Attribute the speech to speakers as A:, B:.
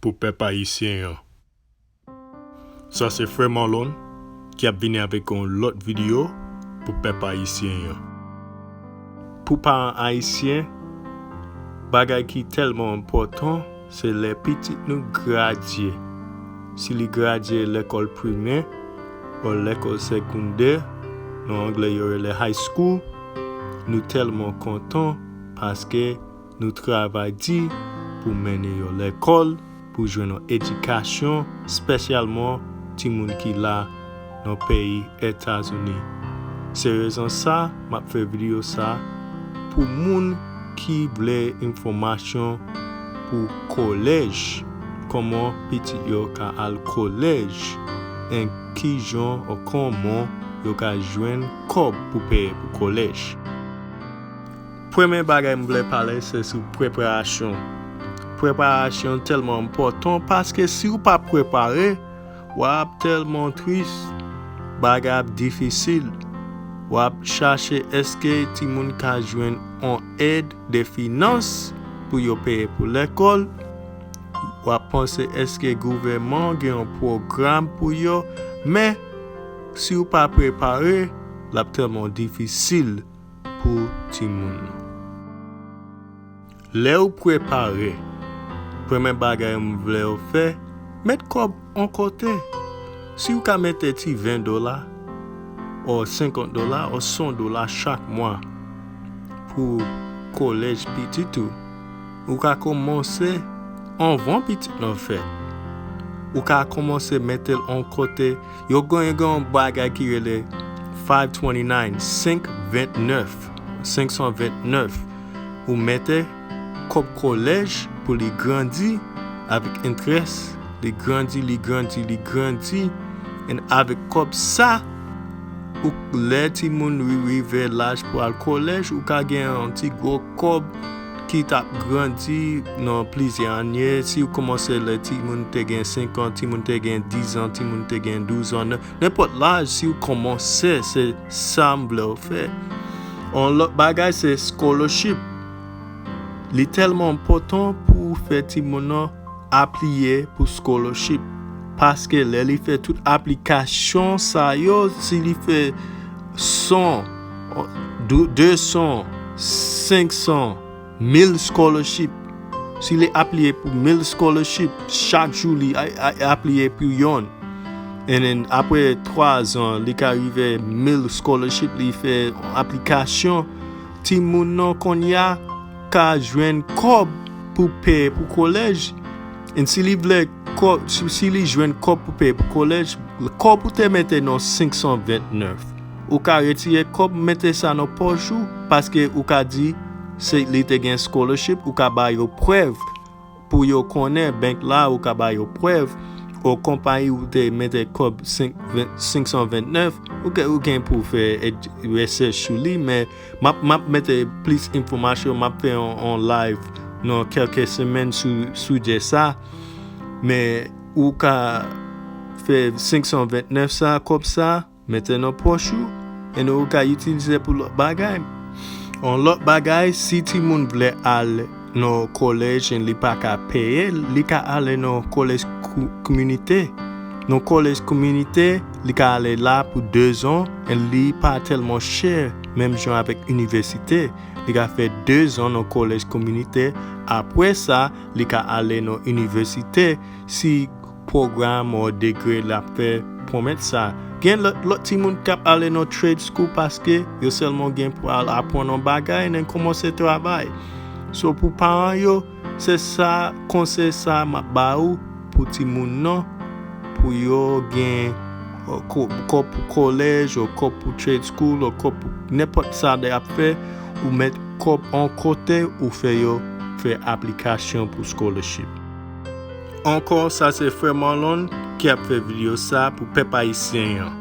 A: pou pèp ayisyen an. Sa se frè Marlon ki ap vini avèk yon lòt video pou pèp ayisyen an. Pou paran ayisyen, bagay ki tèlman enpòtan se lè pitit nou gradye, si li gradye lekòl primè o lekòl segondè, nan anglè yo rele high school, nou tèlman kontan paske Nou travay di pou mennen yo lekòl pou jwenn yon edikasyon spesyalman timoun ki la nan peyi etazini se rezon sa map fè video sa pou moun ki vle enfòmasyon pou kolèj kòman pitit yo ka al kolèj en kijan or kòman yo ka jwenn kòb pou peye pou kolèj. Premye bagay m vle pale se sou preparasyon. Preparasyon tèlman enpòtan paske si ou pa prepare w ap tèlman tris, bagay ap difisil. W ap chache èske timoun ka jwenn yon èd de finans pou yo peye pou lekòl, w ap panse èske gouvèman an gen yon pwogram pou yo men si ou pa prepare l ap tèlman difisil. pou timoun ou. Lèw prepare, premè bagay m vlew fè met kòb on kote, siw ka mete ti 20 dola or 50 dola or 100 dola chak mwa pou kolèj pitit ou, ou ka komanse anvan pitit lan fèt, ou ka komanse metel on kote. Yo gen yon bagay ki rele 529, 529, ou mete kòb kolèj pou li grandi avèk enterès, li grandi, li grandi, li grandi, en avèk kòb sa, ou lè timoun rive laj pou al kolèj, ou ka gen yon ti gwo Kòb ki t ap grandi nan plizyè ane, si ou kòmanse lè timoun te gen senkan, timoun te gen dizan, timoun te gen douzan, nan nenpòt laj si ou kòmanse se sa m vle ou fè. On lòt bagay se scholarship. Li tèlman enpòtan pou ou fè timoun nan apliye pou scholarship. Paske lè li fè tout aplikasyon sa yo, si li fè 100 200, 500, 1000 scholarship. Si li apliye pou 1000 scholarship, chak jou li apliye pou yon. And then apre 3 zan, li ka rive 1000 scholarship li fè aplikasyon. Ti moun nan konya ka jwenn kòb pou pè pou kolèj. And si li vle kòb, si li jwenn kòb pou pè pou kolèj, kòb ou te mete nan 529. ou ka retire kòb mete sa nan pòch ou paske ou ka di se li te gen scholarship ou ka ba yo prèv pou yo konnen bank la ou ka ba yo prèv o konpayi ou te mete kòb 529 ou ke ou gen pou fè research sou li men map map mete plis enfomasyon map fè on live nan kelke semèn sou sujè sa men ou ka fè 529 sa kòb sa. Mete nan pòch ou and ou ka itilize pou lòt bagay. On lòt bagay si timoun vle al nan on college and li pa ka peye l, li ka ale nan on college kminite. Nan college kminite li ka ale la pou 2 zan and li pa tèlman chè menm jan avèk inivèsite. Li ka fè 2 zan nan college kminite apre sa li ka ale nan inivèsite si. Program or degre lap fè pwomèt sa. Gen lot timoun kap ale nan trade school paske yo selman gen pou al apwann on bagay nen komanse travay. So pou paran yo se sa konsey sa map ba ou pou timoun nan pou yo gen kòb pou college or kòb pou trade school or kòb pou nenpot sa de ap fè ou met kòb on kote ou fè yo fè aplikasyon pou scholarship. Ankò sa se frè Marlon ki ap fè video sa pou pèp ayisyen yan.